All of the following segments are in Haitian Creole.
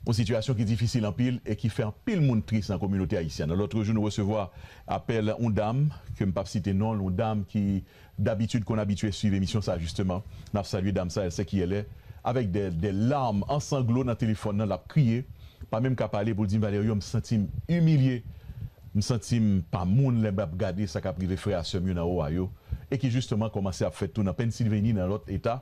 Yon sitiyasyon ki difisil anpil e ki fè anpil moun tris nan kominote ayisyen an. Lòt jou nou resevwa apèl yon dam, ke m p ap site non l, yon dam ki dabitid konn abitye swiv emisyon sa jisteman, n ap salye dam sa, Elsekièle, avèk dè larm an sanglo nan telefòn nan l ap kriye, pa menm ka pale pou l di m, Valerio, m santi m imilye, m santi m pa moun lè m ap gade sa k ap rive frè a sè m yo nan Ohio e ki jisteman kòmanse ap fèt tou nan Pennsilveni, nan lòt eta.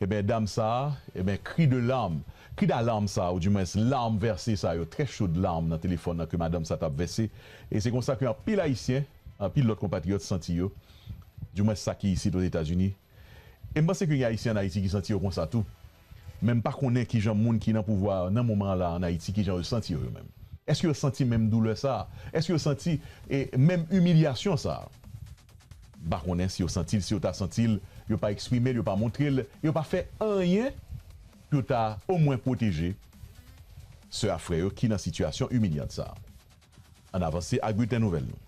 Eben dam sa a, eben kri de larm, kri dalarm sa a ou di mwens larm vèse sa yo, trè chod larm nan telefòn nan ke madanm sa t ap vèse e se konsa ke anpil Ayisyen, anpil lòt konpatriyòt santi yo, di mwens sa ki isit Ozetazini. E m panse ke gen Ayisyen an Ayiti ki santi yo konsa tou. Men m pa konnen kijan moun ki nan pouvwa nan moman an la an Ayiti kijan yo santi yo yo menm. Eske yo santi menm doulè sa a? Eske yo santi e menm imilyasyon sa a? M pa konnen si yo santi l, si yo ta santi l, yo pa eksprime l, yo pa montre l, e yo pa fè anyen pou yo ta omwen pwoteje sè ak frè yo ki nan sitiyasyon imilyant sa a. Ann avanse ak bilten nouvèl nou.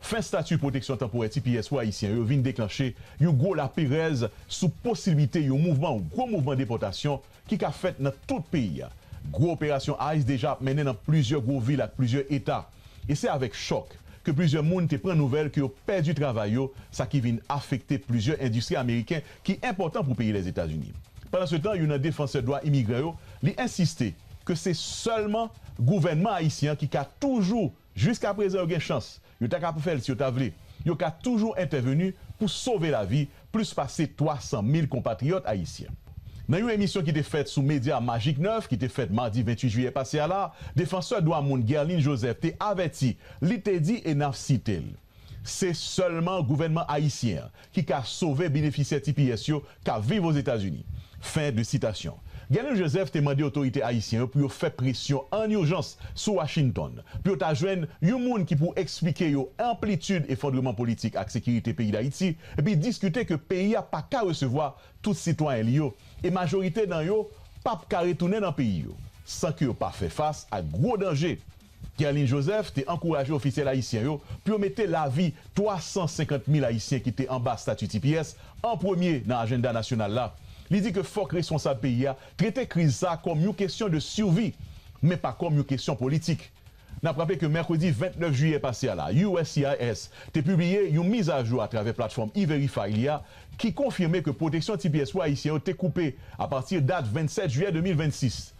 Fen stati pwoteksyon tanporè tps pou Ayisyen yo vin deklanche yon gwo laperèz sou posiblite yon mouvman, yon gwo mouvman depòtasyon ki ka fèt nan tout peyi a. Gwo operasyon ice deja ap mennen nan plizyè gwo vil ak plizyè eta. E se avèk chòk ke plizyè moun te pran nouvèl ke yo pèdi travay yo, sa ki vin afekte plizyè endistri ameriken ki enpòtan pou peyi Lèzetazini. Pandansetan, youn nan defansè dwa imigran yo, li ensiste ke se sèlman gouvènman ayisyen an ki ka toujou Jiska prezan yo gen chans, yo ta ka pou fè l si yo ta vle. Yo ka toujou entèveni pou sove lavi plis pase 300 mil konpatriyòt ayisyen. Nan yon emisyon ki te fèt sou medya Magic 9 ki te fèt madi 28 jiyè pase a la, defansè dwa moun Guerline Joseph te avèti, li te di e n ap site l, Se sèlman gouvènman ayisyen an ki ka sove benefisyè tps yo k ap viv Ozetazini. Fen de sitasyon. Gernil Joseph te mande otorite ayisyen yo pou yo fè presyon ann ijans sou Washington pou yo ta jwenn yon moun ki pou eksplike yo anplitid efondreman politik ak sekirite peyi Dayiti epi diskite ke peyi a pa ka resevwa tout sitwayen li yo e majorite nan yo p ap ka retounen nan peyi yo san ke yo pa fè fas ak gwo danje Kerline Joseph te ankouraje ofisyèl ayisyen yo pou yo mete lavi 350 mil ayisyen ki te anba stati tps an premye nan ajenda nasyonal la. Li di ke fòk responsab peyi a trete kriz sa kòm yon kesyon de survi, men pa kòm yon kesyon politik. N ap raple ke mèkredi 29 jiyè pase a la, uscis te pibliye yon mizajou atravè platfòm E-Verify li a ki konfime ke pwoteksyon tps pou ayisyen yo te koupe apati dat 27 jiyè 2026.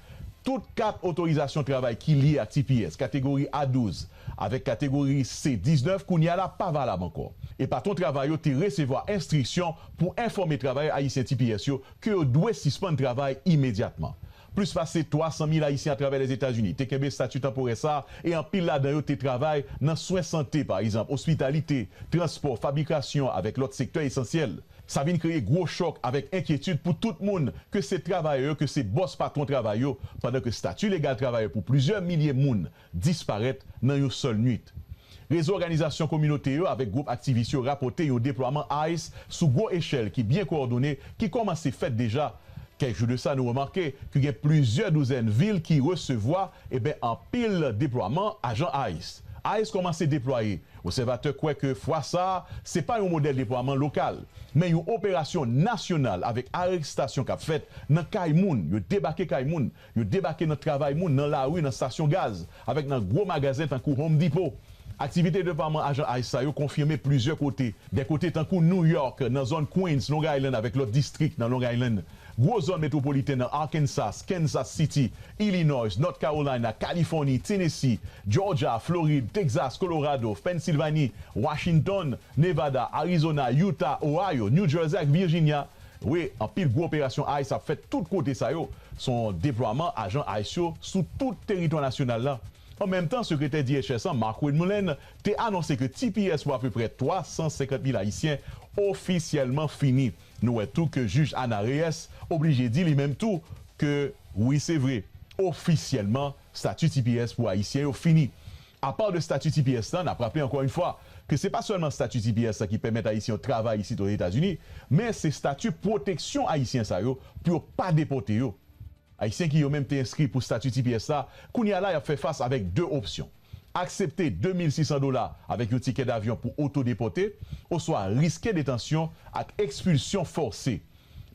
Tout kat otorizasyon travay ki lye ak tps kategori A 12 avèk kategori C 19 kounye a la pa valab ankò e patwon travay yo te resevwa enstriksyon pou enfòme travayè ayisyen tps yo ke yo dwe sispann travay imedyatman. Plis pase 300 mil ayisyen atravè Lèzetazini te kenbe estati tanporè sa a e anpil ladan yo te travay nan swen sante, pa egzanp, ospitalite, transpò, fabrikasyon avèk lòt sektè esansyèl. Sa vin kreye gwo chòk avèk enkyetid pou tout moun, ke se travayè yo ke se bòs patwon travay yo, pandan ke stati legal travayè pou plizyè milye moun disparèt nan yon sèl nuit. Rezo òganizasyon kominote yo avèk gwoup aktivis yo rapòte yon deplwaman ice sou gwo echèl ki byen kowòdone ki kòmanse fèt deja. Kèk jou de sa nou remake ke gen plizyè douzèn vil ki resevwa, eben, anpil deplwaman ajan ice. Ice kòmanse deplwaye Obsèvatè kwè ke fwa sa a, se pa yon modèl deplwaman lokal, men yon operasyon nasyonal avèk arestasyon k ap fèt nan kay moun, yo debake kay moun, yo debake nan travay moun, nan lari, nan stasyon gaz, avèk nan gwo magazen tankou Home Depot. Aktivite deplwaman ajan ice sa yo konfime plizyè kote, dè kote tankou New York, nan zòn Queens, Long Island avèk lòt distrik nan Long Island. Gwo zòn metwopoliten nan Arkansas, Kansas City, Illinois, North Carolina, Californie, Tennessee, Georgia, Florid, Texas, Colorado, Pennsylvanie, Washington, Nevada, Arizona, Utah, Ohio, New Jersey ak Virginia. Wi, anpil gwo operasyon ice ap fèt tout kote sa yo. Se yon deplwaman ajan ice yo sou tout teritwa nasyonal la. An menm tan, sekretè DHS an, Markwayne Mullin, te anonse ke tps pou apeprè 350 mil ayisyen ofisyèlman fini. Nou wè tou ke Jij Ana Reyes oblije di li menm tou ke wi se vre, ofisyèlman stati tps pou Ayisyen yo fini. Apa de stati tps lan, n ap raple ankò yon fwa ke se pa sèlman stati tps lan ki pèmèt Ayisyen yo travay isit Ozetazini, men se stati pwoteksyon Ayisyen sa yo pou yo pa depòte yo. Ayisyen ki yo menm te enskri pou stati tps la, kounye a la y ap fè fas avèk 2 opsyon, aksepte 2600 dola avèk yon tikè davyon pou oto-depòte, oswa riske detansyon ak ekspilsyon fòse.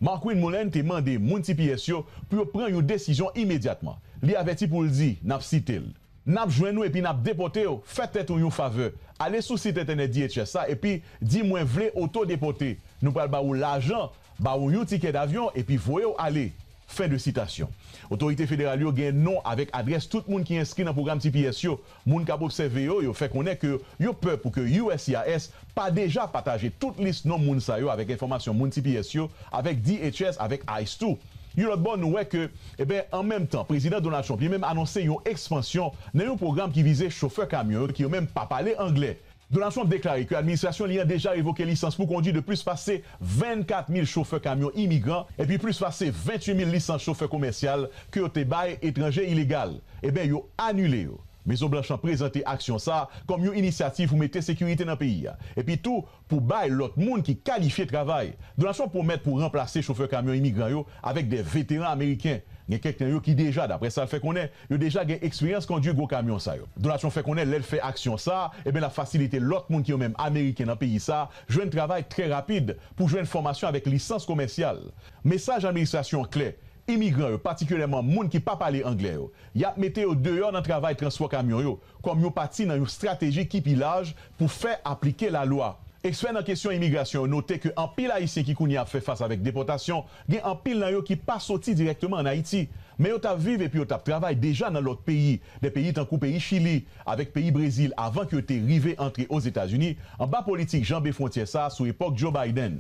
Markwin Mullin te mande moun tps yo pou yo pran yon desizyon imedyatman. Li avèti pou l di, n ap site l. N ap jwenn ou epi n ap depòte w, fè tèt ou yon favè, ale sou sit entènèt DHS la epi di mwen vle oto-depòte, nou pral ba ou lajan, ba ou yon tikè davyon epi voye w ale. Fen de sitasyon. Otorite federal yo gen non avèk adrès tout moun ki enskri nan pwogram tps yo. Moun k ap obsève yo, yo fè konnen ke yo pè pou ke uscis pa deja pataje tout lis non moun sa yo avèk enfòmasyon moun tps yo avèk DHS avèk ice tou. Yon lòt bò nou wè ke eben an menm tan Prezidan Donald Trump li menm anonse yon ekspansyon nan yon pwogram ki vize chofè kamyon yo ki yo menm pa pale angle. Donald Trump deklare ke administrasyon li an deja revoke lisans pou kondwi de plis pase 24 mil chofè kamyon imigran epi plis pase 28 mil lisans chofè komèsyal ke yo te bay etranje ilegal eben yo anile yo. Mezon Blanch lan prezante aksyon sa kòm yon inisyativ pou mete sekirite nan peyi a epi tou pou bay lòt moun ki kalifye travay. Donald Trump pwomèt pou ranplase chofè kamyon imigran yo Avèk 2 veteran ameriken, gen kèk nan yo ki deja, daprè sa l fè konnen, yo deja gen eksperyans kondwi gwo kamyon sa yo. Donatyon fè konnen lè l fè aksyon sa a, eben l ap fasilite lòt moun ki yo menm ameriken nan peyi sa a jwenn travay trè rapid pou jwenn fòmasyon avèk lisans komèsyal. Mesaj administrasyon an klè, imigran yo, patikilyèman moun ki pa pale anglè yo, y ap mete yo deyò nan travay transpò kamyon yo, kòm yon pati nan yon strateji ki pi laj pou fè aplike lalwa. Ekspè nan kesyon imigrasyon yo note ke anpil Ayisyen ki kounye a ap fè fas avèk depòtasyon, gen anpil nan yo ki pa soti dirèkteman ann Ayiti, men yo t ap viv epi yo t ap travay deja nan lòt peyi, dè peyi tankou peyi Chili avèk peyi Brezil avan ke yo te rive antre Ozetazini anba politik janbe fwontyè sa a sou epòk Joe Biden.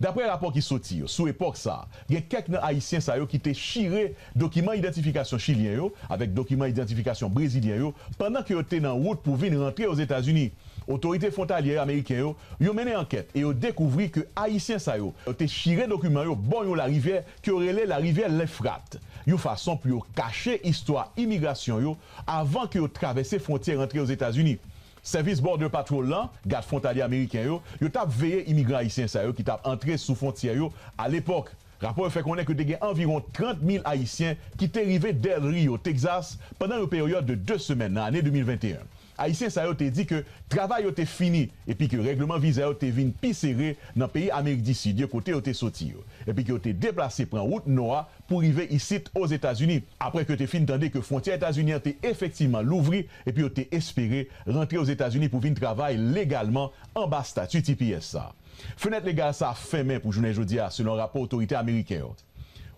Daprè rapò ki soti yo sou epòk sa a, gen kèk nan Ayisyen sa yo ki te chire dokiman idantifikasyon chilyen yo avèk dokiman idantifikasyon brezilyen yo pandan ke yo te nan wout pou vin rantre Ozetazini. Otorite fwontalyè ameriken yo yo mennen ankèt e yo dekouvri ke Ayisyen sa yo te chire dokiman yo bò yon larivyè ke yo rele larivyè Lefrat yon fason pou yo kache istwa imigrasyon yo avan ke yo travèse fwontyè rantre Ozetazini. Sèvis Border Patrol lan, gad fwontalye ameriken yo, yo t ap veye imigran ayisyen sa yo ki t ap antre sou fwontyè yo alepòk. Rapò yo fè konnen ke te gen anviwon 30 mil ayisyen ki te rive Del Rio, Texas, pandan yon peryòd de 2 semèn nan ane 2021. Ayisyen sa yo te di ke travay yo te fini epi ke règleman viza yo te vin pi sere nan peyi Amerik di Sid yo kote yo te soti yo, epi ke yo te deplase pran wout nò a pou rive isit Ozetazini, apre ke yo te fin tande ke fwontyè Etazini an te efektivman louvri epi yo te espere rantre Ozetazini pou vin travay legalman anba stati tps sa. Fenèt legal sa fèmen pou jounen jodi a selon rapò otorite ameriken yo.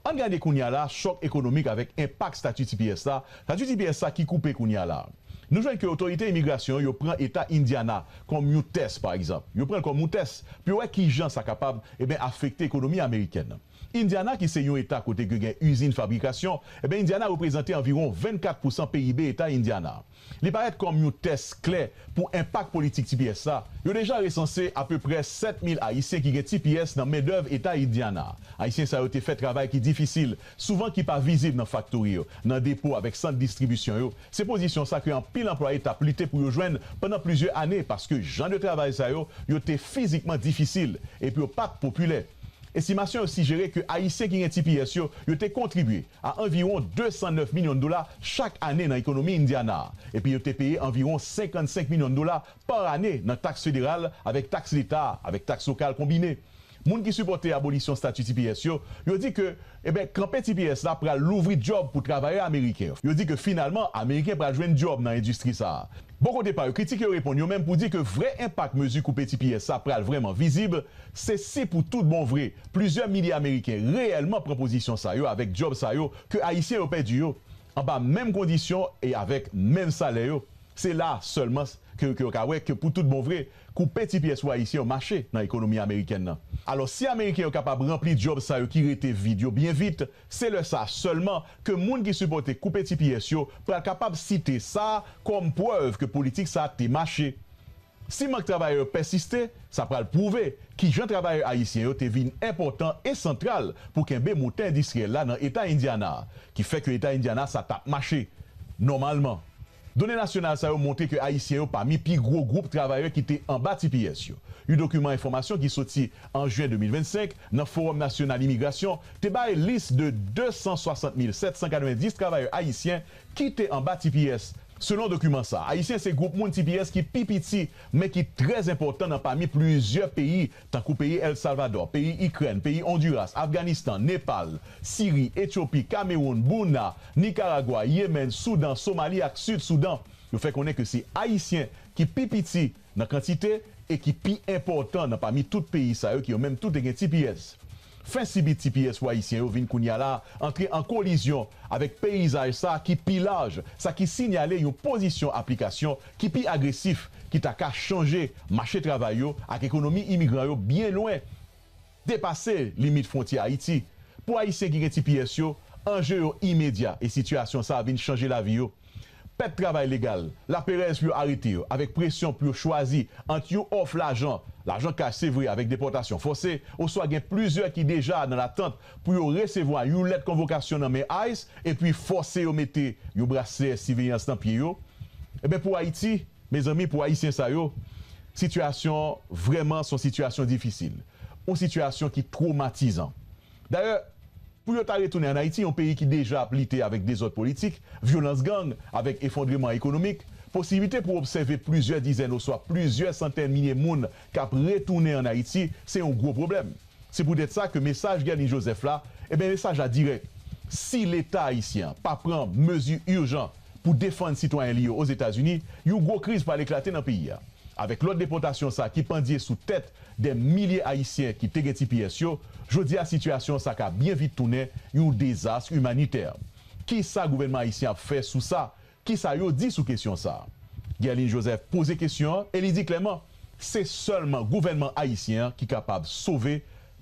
Ann gade kounye a la chòk ekonomik avèk enpak stati tps la, stati tps sa ki koupe kounye a la. Nou jwenn ke otorite imigrasyon yo pran eta Indiana kòm yon tès pa egzanp, yo pran l kòm yon tès pou yo wè kijan sa kapab, eben afekte ekonomi amerikèn nan. Indiana ki se yon eta kote ke gen izin fabrikasyon, enben Indiana reprezante anviwon 24 pousan PIB eta Indiana. Li parèt kòm yon tès klè pou enpak politik tps la. Yo deja resanse apeprè 7 mil Ayisyen ki gen tps nan mendèv eta Indiana. Ayisyen sa yo te fè travay ki difisil, souvan ki pa vizib nan faktori yo, nan depo avèk sant distribisyon yo. Se pozisyon sa ke anpil anplwaye tap lite pou yo jwenn pandan plizyè ane paske jan de travay sa yo, yo te fizikman difisil epi yo pat popilè. Estimasyon yo sijere ke Ayisyen ki gen tps yo, yo te kontribye a anviwon 209 milyon dola chak ane nan ekonomi Indiana a, epi yo te peye anviwon 55 milyon dola pa ane nan taks federal avèk taks leta avèk taks lokal konbine. Moun ki sipòte abolisyon stati tps yo, yo di ke, eben, kanpe tps la pral louvri djòb pou travayè ameriken yo. Yo di ke finalman, Ameriken pral jwenn djòb nan endistri sa a. Bò kote pa yo, kritik yo reponn yo menm pou di ke vrè enpak mezi koupe tps sa pral vrèman vizib Se si pou tout bon vre, plizyè milye Ameriken reyèlman pran pozisyon sa yo avèk djòb sa yo ke Ayisyen yo pèdi yo, anba menm kondisyon e avèk menm salè yo, se la a sèlman ke yo ka wè ke pou tout bon vre, koupe ti pyès pou Ayisyen yo mache nan ekonomi Amerikèn nan. Alò, si Ameriken yo kapab ranpli djòb sa yo ki rete vid yo byen vit, se lè sa a sèlman ke moun ki sipòte koupe ti pyès yo pral kapab site sa a kòm prèv ke politik sa a te mache. Si mank travayè yo pèsiste, sa pral pwouve ki jan travayè ayisyen yo te vin enpòtan e santral pou kenbe motè endistriyèl la nan Eta Indiana a, ki fè ke Eta Indiana sa tap mache nòmalman. Done nasyonal sa yo montre ke ayisyen yo pami pi gwo gwoup travayè ki te anba tps yo. You dokiman enfòmasyon ki soti an Jyen 2025 nan Fowòm Nasyonal Imigrasyon te bay lis de 260,790 travayè ayisyen Kite anba tps. Selon dokiman sa, Ayisyen se gwoup moun tps ki pi piti men ki trè zenpòtan nan pami plizyè peyi tankou peyi El Salvador, peyi Ikrèn, peyi Onduras, Afganistan, Nepal, Siri, Etyopi, Kamewoun, Burna, Nikaragwa, Yemen, Soudan, Somali ak Sid Soudan. Yo fè konnen ke se Ayisyen ki pi piti nan kantite e ki pi enpòtan nan pami tout peyi sa yo ki yo menm tou te gen tps. Fen sibi tps pou Ayisyen yo vin kounye a la antre an kolizyon avèk peyizaj sa ki pi laj, sa ki sinyale yon pozisyon aplikasyon ki pi agresif ki ta ka chanje mache travay yo ak ekonomi imigran yo byen lwen depase limit fwontyè Ayiti. Pou Ayisyen ki gen tps yo, anje yo imedya e sitiyasyon sa a vin chanje lavi yo. Pèt travay legal, laperèz pou yo arete yo, avèk presyon pou yo chwazi ant yon òf lajan, lajan kach se vre avèk depòtasyon fòse, oswa gen plizyè ki deja nan latant pou yo resevwa yon lèt konvokasyon nan men ice epi fòse yo mete yon braslè siveyans nan pye yo. Enben pou Ayiti, mezanmi, pou Ayisyen sa yo, Sitiyasyon vrèman son sitiyasyon difisil, yon sitiyasyon ki twomatizan. Dayè, pou yo ta retounen an Ayiti, yon peyi ki deja ap lite avèk dezòd politik, vyolans gang, avèk efondreman ekonomik, posiblite pou obsève plizyè dizèn oswa plizyè santèn milye moun k ap retounen an Ayiti se yon gwo pwoblèm. Se poutèt sa ke mesaj Guerline Joseph la, enben mesaj la dirèk, si Leta ayisyen an pa pran mezi ijan pou defann sitwayen li yo Ozetazini, yon gwo kriz pral eklate nan peyi a. Avèk lòd depòtasyon sa ki pandye sou tèt dè milye ayisyen ki te gen tps yo, jodi a sitiyasyon sa ka byen vit tounen yon dezas imanitè. Kisa gouvènman ayisyen ap fè sou sa Ki sa yo di sou kesyon sa a? Guerline Joseph poze kesyon an e li di klèman se sèlman gouvènman ayisyen an ki kapab sove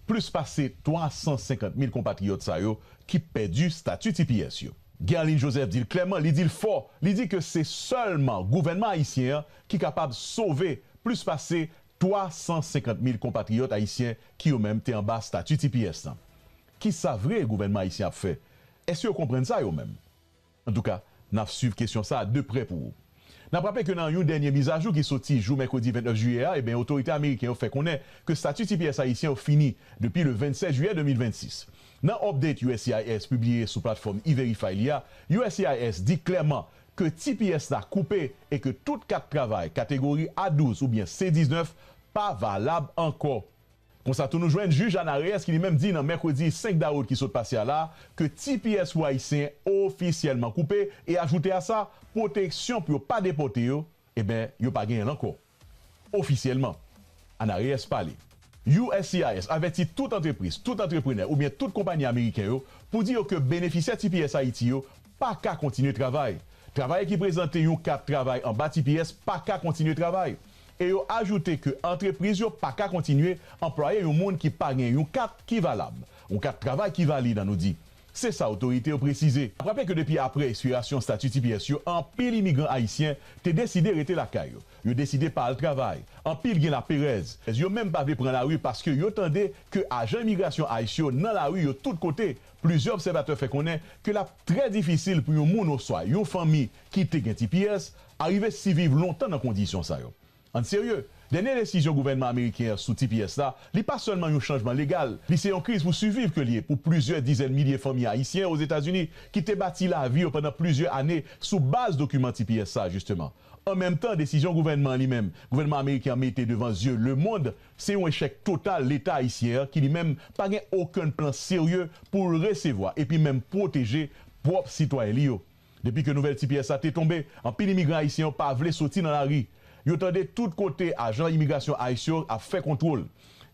plis pase 350 mil konpatriyòt sa yo ki pèdi stati tps yo. Guerline Joseph di l klèman, li di l fò, li di ke se sèlman gouvènman ayisyen an ki kapab sove plis pase 350 mil konpatriyòt ayisyen ki yo menm te anba stati tps lan. Ki sa vre gouvènman ayisyen ap fè? Èske yo konprann sa yo menm? Antouka, n ap swiv kesyon sa a de prè pou ou. N ap raple ke nan yon dènye mizajou ki soti jou mèkredi 29 jiyè a, eben otorite ameriken yo fè konnen ke stati tps ayisyen yo fini depi le 27 jiyè 2026. Nan update uscis pibliye sou platfòm E-Verify li a, uscis di klèman ke tps la koupe e ke tout kat travay kategori A-12 oubyen C-19 pa valab ankò. Konsa tou nou jwenn jij Ana Reyes ki li menm di nan mèkredi 5 dawout ki sot pase a la ke tps pou ayisyen ofisyèlman koupe e ajoute a sa pwoteksyon pou yo pa depòte yo eben yo pa genyen l ankò ofisyèlman Ana Reyes pale. Uscis avèti tout antrepriz, tout antreprenè oubyen tout konpayi ameriken yo pou di yo ke benefisyè tps Ayiti yo pa ka kontinye travay. Travayè ki prezante yon kat travay anba tps pa ka kontinye travay. e yo ajoute ke antrepriz yo pa ka kontinye anplwaye yon moun ki pa gen yon kat ki valab, yon kat travay ki valid an nou di, se sa otorite yo presize. N ap raple ke depi apre ekspirasyon stati tps yo anpil imigran ayisyen te deside rete lakay yo, yo deside pa al travay, anpil gen laperèz, yo menm pa vle pran lari paske yo tande ke ajan imigrasyon ice yo nan lari yo tout kote, plizyè obsèvatè fè konnen ke l ap trè difisil pou yon moun oswa yon fanmi ki te gen tps Arive siviv lontan nan kondisyon sa yo. An serye, dènye desizyon gouvènman ameriken an sou tps la, li pa sèlman yon chanjman legal, li se yon kriz pou siviv ke li ye pou plizyè dizèn milye fanmi ayisyen Ozetazini ki te bati lavi yo pandan plizyè ane sou baz dokiman tps sa jisteman. An menm tan, desizyon gouvènman an li menm, gouvènman ameriken an mete devan zye lemond, se yon echèk total leta ayisyen an ki li menm pa gen okenn plan serye pou l resevwa epi menm pwoteje pwòp sitwayen li yo. Depi ke nouvèl ti pyès sa te tonbe, anpil imigran ayisyen yo pa vle soti nan lari. Yo tande tout kote ajan imigrasyon ice yo ap fè kontwol.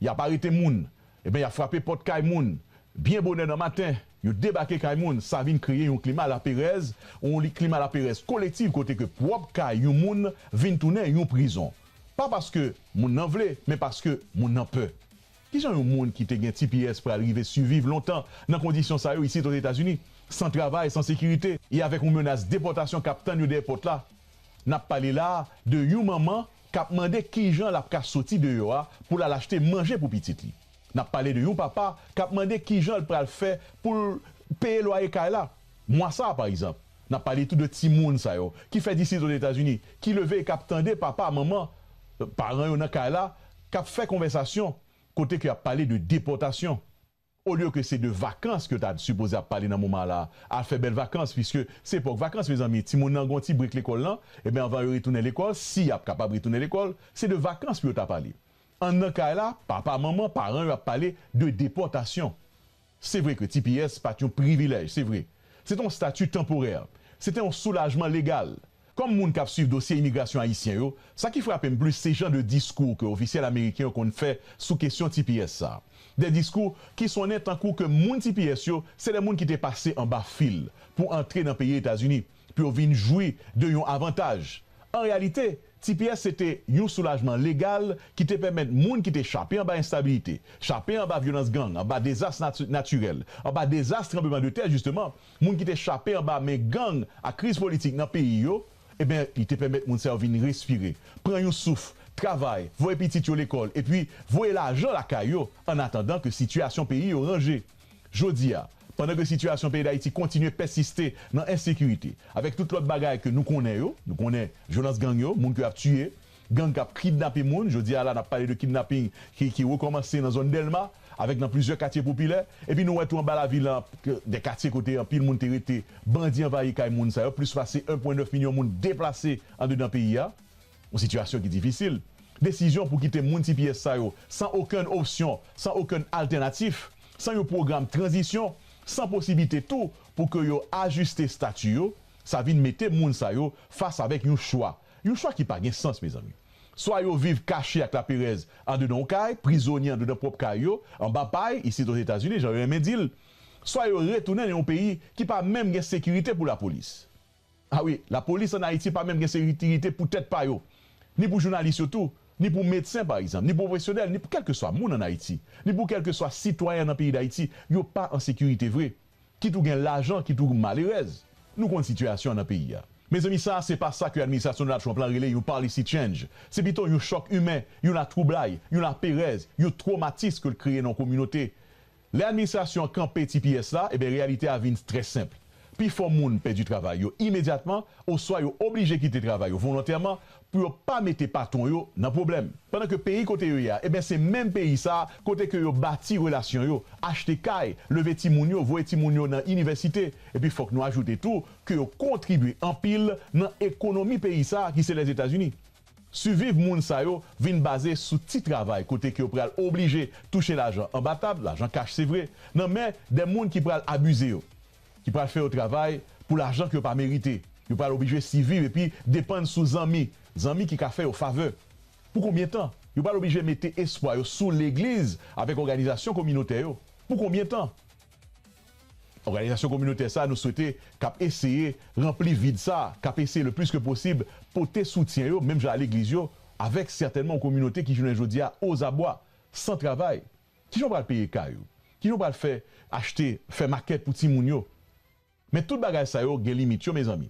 Y ap arete moun. Eben y ap frape pòt kay moun. Byen bonè nan maten, yo debake kay moun. Sa vin kreye yon klima laperèz, yon klima laperèz koletiv kote ke pwòp kay yon moun vin tounen yon prizon. Pa paske moun nan vle, men paske moun nan pè. Kijan yon moun ki te gen tps pral rive siviv lontan nan kondisyon sa yo isit Ozetazini? San travay, san sekirite e avèk yon menas depòtasyon k ap tann yo dèyè pòt la. N ap pale la a de yon manman k ap mande kijan l ap ka soti deyò a pou l al achte manje pou pitit li. N ap pale de yon papa k ap mande kijan l pral fè pou l peye lwaye kay la. Mwa sa a, pa egzanp, n ap pale tou de timoun sa yo ki fèt isit Ozetazini, ki leve e k ap tande papa, manman, paran yo nan kay la k ap fè konvèsasyon kote ke y ap pale de depòtasyon, olye ke se de vakans ke yo ta sipoze ap pale nan moman la a, al fè bèl vakans, piske se epòk vakans mezanmi, timoun nan gen yon ti brek lekòl lan, enben anvan yo retounen lekòl, si y ap kapab retounen lekòl, se de vakans pou yo ta pale. An nan kay la, papa, manman, paran yo ap pale de depòtasyon. Se vre ke tps pa t yon privilèj, se vre. Se te yon stati tanporè. Se te yon soulajman legal. Kòm moun k ap swiv dosye imigrasyon ayisyen yo, sa ki frape m plis se jan de diskou ke ofisyèl ameriken yo konn fè sou kesyon tps sa. De diskou ki sonnen tankou ke moun tps yo se de moun ki te pase anba fil pou antre nan peyi Etazini. pou yo vin jwi de yon avantaj. An reyalite, tps se te yon soulajman legal ki te pèmèt moun ki te chape anba enstabilite, chape anba vyolans gang, anba dezas natirèl, anba dezas tranbleman de tè jisteman, moun ki te chape anba men gang ak kriz politik nan peyi yo, enben li te pèmèt moun sa yo vin respire, pran yon souf, travay, voye pitit yo lekòl epi voye lajan lakay yo annatandan ke sitiyasyon peyi yo ranje. Jodi a, pandan ke sitiyasyon peyi Dayiti kontinye pèsiste nan ensekirite, avèk tout lòt bagay ke nou konnen yo, nou konnen vyolans gang yo, moun ke ap tiye, gang kap kidnape moun, jodi a la nap pale de kidnapping ki ki rekòmanse nan zòn Dèlma, avèk nan plizyè katye popilè, epi nou wè tou anba lavil la, de katye kote anpil moun te rete, bandi anvayi kay moun sa yo, plis pase 1.9 milyon moun deplase andedan peyi a. Yon sitiyasyon ki difisil. Desizyon pou kite moun tps sa yo san okenn opsyon, san okenn altènatif, san yon pwogram tranzisyon, san posiblite tou pou ke yo ajiste stati yo, sa vin mete moun sa yo fas avèk yon chwa. Yon chwa ki pa gen sans, mezanmi. Swa yo viv kache ak laperèz andedan yon kay, prizonye andedan pwòp kay yo, anba pay, isit Ozetazini, jan yo renmen di l, swa yo retounen nan yon peyi ki pa menm gen sekirite pou lapolis. A wi, lapolis an Ayiti pa menm gen sekirite pou tèt pa yo, ni pou jounalis yo tou, ni pou medsen pa egzanp, ni pou pwofesyonèl, ni pou kèlkeswa moun an Ayiti, ni pou kèlkeswa sitwayen nan peyi Dayiti, yo pa an sekirite vre. Kit ou gen lajan, kit ou malerèz. Nou konn sitiyasyon an nan peyi a. Mezanmi sa se pa sa ke administrasyon Donald Trump lan rele yon policy change. Se pito yon chòk imen, yon latwoublay, yon laperèz, yon twomatis ke l kreye nan yon kominote. Lè administrasyon an kanpe tps la, enben reyalite a vin trè senp. Pifò moun pèdi travay yo imedyatman oswa yo oblije kite travay yo volontèman pou yo pa mete patwon yo nan pwoblèm. Pandan ke peyi kote yo ye a, enben se menm peyi sa a kote ke yo bati relasyon yo, achte kay, leve timoun yo, voye timoun yo nan inivèsite. Epi fòk nou ajoute tou ke yo kontribye anpil nan ekonomi peyi sa a ki se Lèzetazini. Siviv moun sa yo vin baze sou ti travay kote ke yo pral oblije touche lajan anba tab, lajan kach se vre, nan men de moun ki pral abize yo, ki pral fè yo travay pou lajan ke yo pa merite. Yo pral oblije siviv epi depann sou zanmi, zanmi ki ka fè yo favè. Pou konbyen tan? Yo pral oblije mete espwa yo sou legliz avèk òganizasyon kominotè yo. Pou konbyen tan? Òganizasyon kominotè sa nou swete k ap eseye ranpli vid sa, k ap eseye le plis ke posib pote soutyen yo menm jan a legliz yo avèk sètènman yon kominote ki jounen jodi a ozabwa, san travay. Kijan w pral peye kay ou? Kijan w pral fè achte, fè makèt pou timoun yo? Men tout bagay sa yo gen limit yo mezanmi.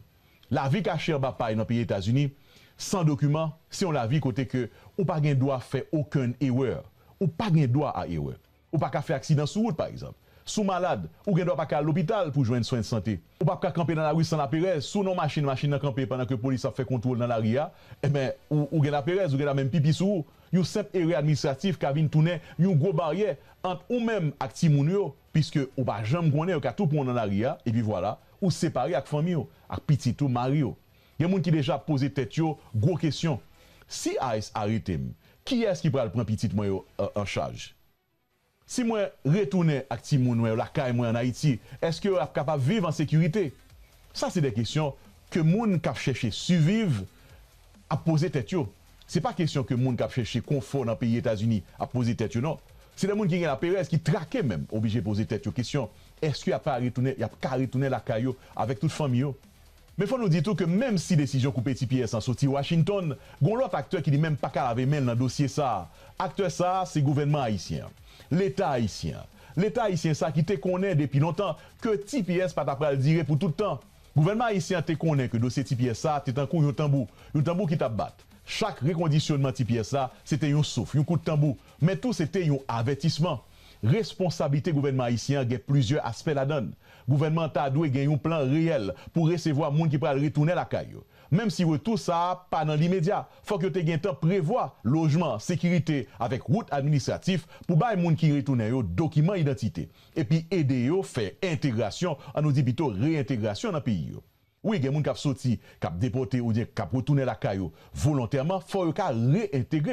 Lavi kache anba pay nan peyi Etazini san dokiman se yon lavi kote ke ou pa gen dwa fè okenn erè. Ou pa gen dwa a erè. Ou pa ka fè aksidan sou wout pa egzanp. Si w malad, ou gen dwa pa ka al lopital pou jwenn swen sante. Ou pap ka kanpe nan lari san laperèz. Si w nan yon machin, machin nan kanpe pandan ke polis ap fè kontwol nan lari a, enben ou gen laperèz, ou gen dwa menm pipi sou ou. Yon senp erè administratif ka vin tounen yon gwo baryè ant ou menm ak timoun ou yo. Piske ou pa janm konnen, yo ka tou pran w nan lari a, epi vwala, ou separe ak fanmi w, ak pitit ou, mari w. Gen moun ki deja ap poze tèt yo gwo kesyon, Si ice arete m, kiyès ki pral pran pitit mwen yo an chaj? Si mwen retounen ak timoun mwen yo lakay mwen an Ayiti, èske yo ap kapab viv an sekirite? Sa se de kesyon ke moun k ap chèche siviv ap poze tèt yo. Se pa kesyon ke moun k ap chèche konfò nan peyi Etazini ap poze tèt yo non. Se lè moun ki gen laperèz, ki trake menm, oblije poze tèt yo kesyon èske y ap ka retounen, y ap ka retounen lakay yo avèk tout fanmi yo. Men fò nou di tou ke menm si desizyon koupe ti pyès lan soti Washington, gon lòt aktè ki li menm pa ka lave men l nan dosye sa a. Aktè sa a, se gouvènman ayisyen an. Leta ayisyen an. Leta ayisyen sa a ki te konnen depi lontan ke ti pyès pa ta pral dire pou tout tan. Gouvènman ayisyen an te konnen ke dosye Ti Pyè sa a te tankou yon tanbou, yon tanbou ki t ap bat. Chak rekondisyonman Ti Pyè sa, se te yon souf, yon kout tanbou, men tou se te yon avètisman. Responsablite gouvènman ayisyen an gen plizyè aspè ladan l. Gouvènman an ta dwe gen yon plan reyèl pou resevwa moun ki pral retounen lakay yo. Menm si retou sa a pa nan limedya, fòk yo te gentan prevwa lojman, sekirite, avèk wout administratif pou bay moun ki retounen yo dokiman idantite. epi ede yo fè entegrasyon, an nou di pito reyentegrasyon nan peyi yo. Wi gen moun k ap soti, k ap depòte oubyen k ap retounen lakay yo volontèman, fò yo ka reyentegre.